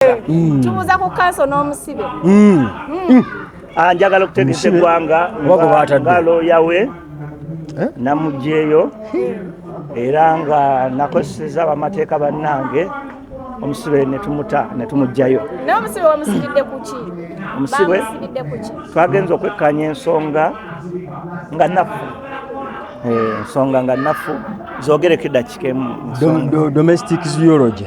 omuwala mm. tubuza ku kanso n'omusibe mm. mm. ah, njagala okutegesa eggwanga nga looya we eh? namugyeyo era nga nakozeseza abamateeka bannange omusibe netumuta netumugjayo omusibe twagenza okwekkanya ensonga nga nafu eh, ensonga nga nafu zogereko edakika emu domestic zoology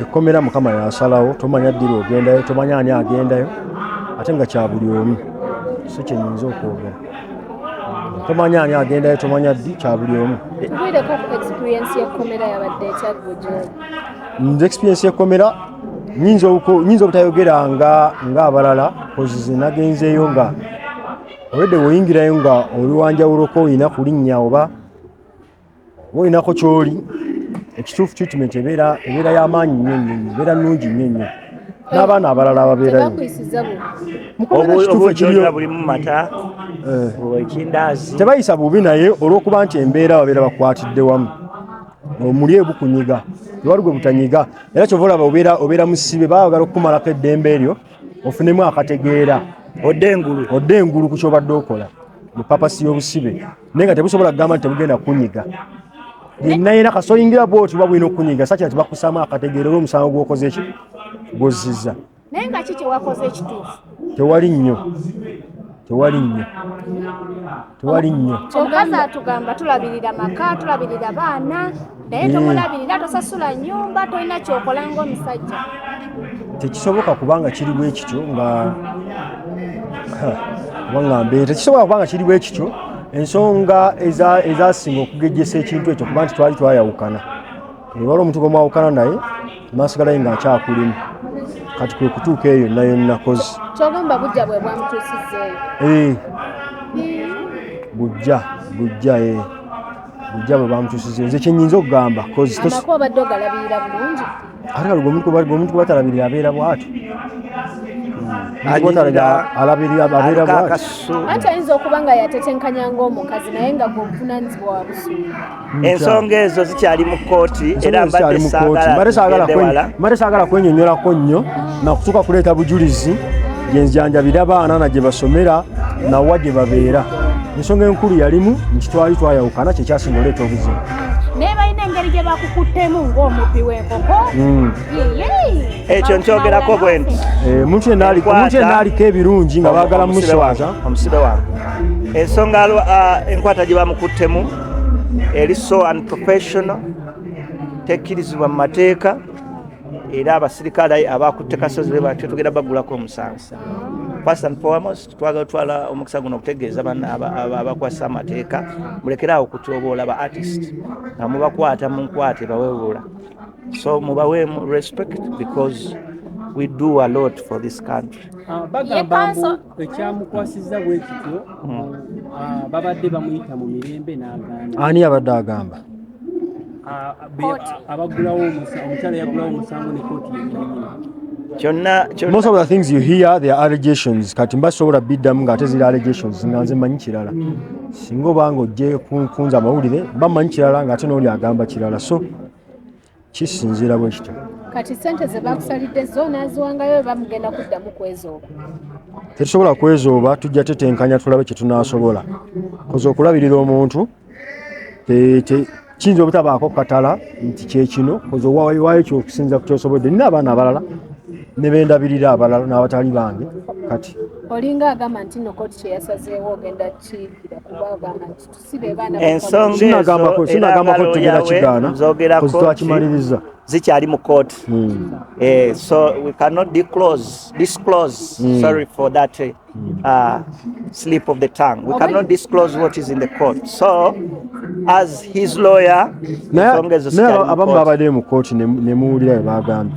ekkomera mukama yasalawo tomanya ddira ogendayo tomanya ani agendayo ate nga kya buli omu si kyenyinza okwogera tomanya ani agendayo tomanya ddi kya buli omu nze experience yekkomera nyinza obutayogera nga ngaabalala kozize nagenzeeyo nga olwedde woyingirayo nga oliwanjawuloko olina kulinnya oba wolinako kyoli ekituufu treatment ebeera ebeera y'amaanyi nnyo nnyo nnyo ebeera nnungi nnyo nnyo n'abaana abalala ababeerayo eh. tebayisa bubi naye olw'okuba nti embeera babeera bakwatidde wamu omuli ebukunyiga tewali gwe butanyiga era kyova olaba obeera obeera musibe baagala okukumalako eddembe eryo ofunemu akategeera odde engulu odde engulu ku kyobadde okola mu papasi y'obusibe naye nga tebusobola kugamba nti tebugenda kukunyiga yenna yena kasoyingira bwoti oba bulina okukunyiga sakira ti bakusaamu akategeera oba omusango gwokoze ki gwozziza naye nga ki kyewakoze ekituufu tewali nnyo tewali nnyo tewali nnyo omukazi atugamba tulabirira maka tulabirira baana naye mm. tomulabirira tosasula nyumba tolina kyokola ngaomusajja tekisoboka kubanga kiri bwe kityo nga wangambee tekisobola kubanga kiri bwe kityo ensonga ezasinga okugejjesa ekintu ekyo kuba nti twali twayawukana ebala omuntu gwemwawukana naye maaso galaye nga akyakulimu kati kwe kutuuka eyo nayo nakozi kyogamba bujja bwe bwamutuusizeeyo eh. bujja bujja ee eh. bujja bwe bamutusiza nze kyenyinza okugamba atgwemuntu gwebatalabirira abeera bwati ate ayinza okuba nga yatetenkanya ngaomukazi naye nga gwobuvunanyizibwa wabusuula ensonga ezo zikyali mu kkooti era mbadde saagala kwenyonyolako nnyo nakutuuka kuleeta bujulizi gyenjanjabira abaana na gye basomera nawa gye babeera ensonga enkulu yalimu nti twali twayawukana kyekyasinga oleeta obuzibu naye balina engeri gye bakukuttemu ng'omubbi w'enkoko hmm. ekyo nkyogerako bwe nti eh, omuntu yenna aliko ebirungi nga baagala muswaza omusibe wange ensonga ah, enkwata gye bamukuttemu eri so unprofessional tekkirizibwa mu mateeka era abasirikale abakutte kasozi be batyo tugenda bagulako omusango first and foremost twagala twala omukisa guno okutegeeza bana abakwasa amateeka mulekere awo okutyoboola ba artist nga mubakwata mu nkwate bawewula so mubaweemu respect because we do a lot for this country ah, bagamba mbu ekyamukwasizza bwekityo hmm. ah, babadde bamuyita mu mirembe n'agamba ani abadde agamba abaggulawo omukyala yaggulawo omusango ne kooti yenyininyini kyonna most of the things you hear the allegations kati mba sobola biddamu ng'ate ziri allegations nga nze manyi kirala singa obanga ojje kunza amawulire mba manyi kirala ng'ate n'oli agamba kirala so kisinziira bwe kityo kati sente ze bakusalidde zo naziwangayo eba mugenda kuddamu kwezooba tetusobola kwezooba tujja tetenkanya tulabe kye tunaasobola koza okulabirira omuntu kiyinza obutabaako katala nti kyekino koza owawaayo kyokusinza ku kyosobodde nina abaana abalala ne bendabirira abalala n'abatali bange kati olinga agamba nti nokoti kyeyasazeewo ogenda kiyikira kuba agamba nti ensonga ezo era nga looya we zikyali mu kooti hmm. eh, so we cannot disclose, disclose mm. sorry for that eh, uh, slip of the tongue we cannot disclose what is in the court so as his lawyer ensonga ezo abamu babadde mu kooti nemuwulira bebagambye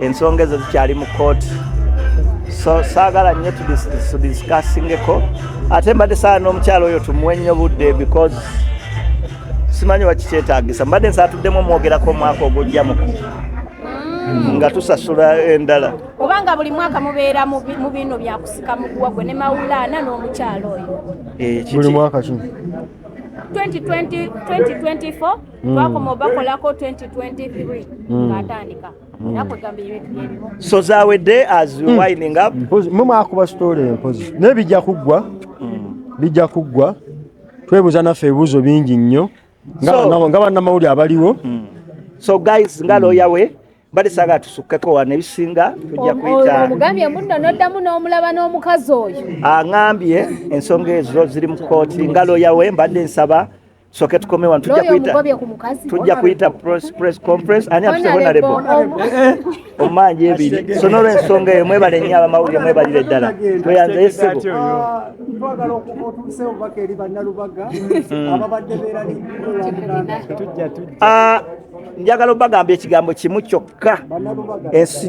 ensonga ezo zikyali mu kooti so saagala nnyo tudisikassingeko ate mbadde saala n'omukyalo oyo tumuwe nnyo budde because simanyi wakikyetagisa mbadde nsaatuddemu omwogerako omwaka ogujja muku mm. nga tusasula endala obanga buli mwaka mubeera mu bino byakusika muguwa gwe ne mawulaana n'omukyalo oyo eh, buli mwaka kino 2024 mm. twakoma obakolako 2023 mm. ngaatandika mm. so zawedde as mm. winding up mumwakuba story empozi naye bijja kuggwa mm. bijja kuggwa twebuuza naffe ebibuuzo bingi nnyo nga bannamawulire abaliwo mm. so guys nga looya we mm. bali saga tusukeko wa ne bisinga tujja kuita omugambye munno noddamu n'omulaba n'omukazi oyo angambye ensonga ezo ziri mu kooti nga looya we mbadde nsaba soke tukome wano tujja kuyita tujja kuyita press press conference ani atuse honorable omanje ebiri so nolwe ensonga eyo mwebale nnyo abamawulire mwebalire ddala tweyanze yesebo ah, twagala otuusewo baka eri bannalubaga hmm. ababadde berali ah, njagala obagamba ekigambo kimu kyokka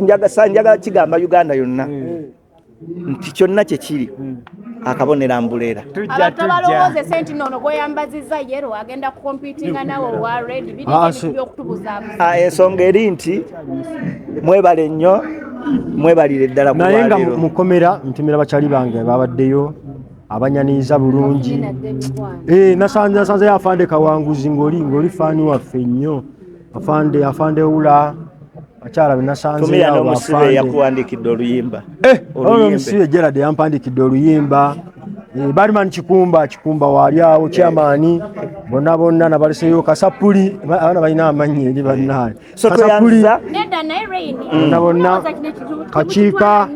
njagala kigamba uganda yonna hmm. nti kyonna kye kiri hmm. akabonero ambuleera abantu abalowooza esenti noono gweyambazizza yero agenda kukompitinga nawe owa red bidbyokutubuzaabuza ah, ah, ensonga eri nti mwebale nnyo mwebalire ddala naye nga mukomera ntumira bakyali bange babaddeyo abanyaniriza bulungi eh, nasanze afande kawanguzi ngoli ngoli faani waffe nnyo afande afande ula akyala benasanzeomusibe yakuwandikidde oluyimba eh, omusibe gerad yampandikidde oluyimba eh, bariman kikumba kikumba waali awo kyamaani bonna bonna nabaleseyo kasapuli abaana balina amanyi eri bannaye kasapuli bonna bonna kakiika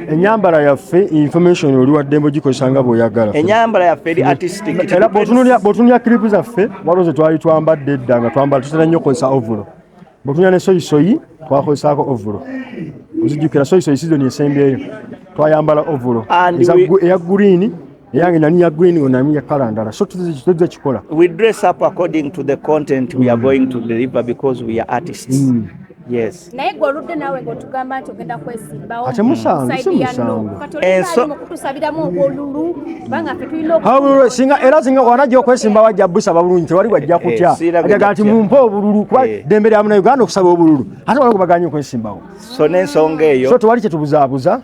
enyambala yaffe information oli waddembe ogikozesa nga bweoyagala enyambala yaffe eri artistic era bwotunulya clip zaffe waliwo ze twali twambadde edda nga twambala tutera nnyo okozesa ovulo bwotunulya ne soyisoyi twakozesaako ovulo ozijukira soyisoyi sizoni esembyeyo twayambala ovulo eya gurini eyange nani ya green ona ya kala ndala so tuze kikola we dress up according to the content we are going to deliver because we are artists mm. yes naye gwe oludde naawe ng'otugamba nti ogenda kwesimbawo ate musango si musango kutusabiramu obwolulu kubanga fe tulina singa era singa wanajja okwesimbawo ajja busaba bulungi tewali wajja kutya eh, ajaga nti mumpe obululu kuba eh. dembe lya muna uganda okusaba obululu ate wala gubaganye okwesimbawo so n'ensonga eyo so tewali kyetubuzaabuza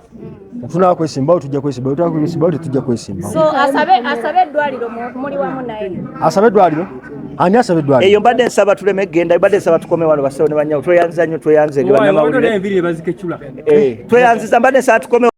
Tufuna kwesimbawo tujja kwesimbawo tujja kwesimbawo tujja kwesimbawo. So asabe asabe eddwaliro muli wamu naye. Asabe eddwaliro ani asaba eddwaliro eyo mbadde nsaba tuleme genda mbadde nsaba tukome wano basawo ne banyawo tweyanziza nnyo tweyanze nge bannamawulire eh, tweyanziza mbadde nsaba tukome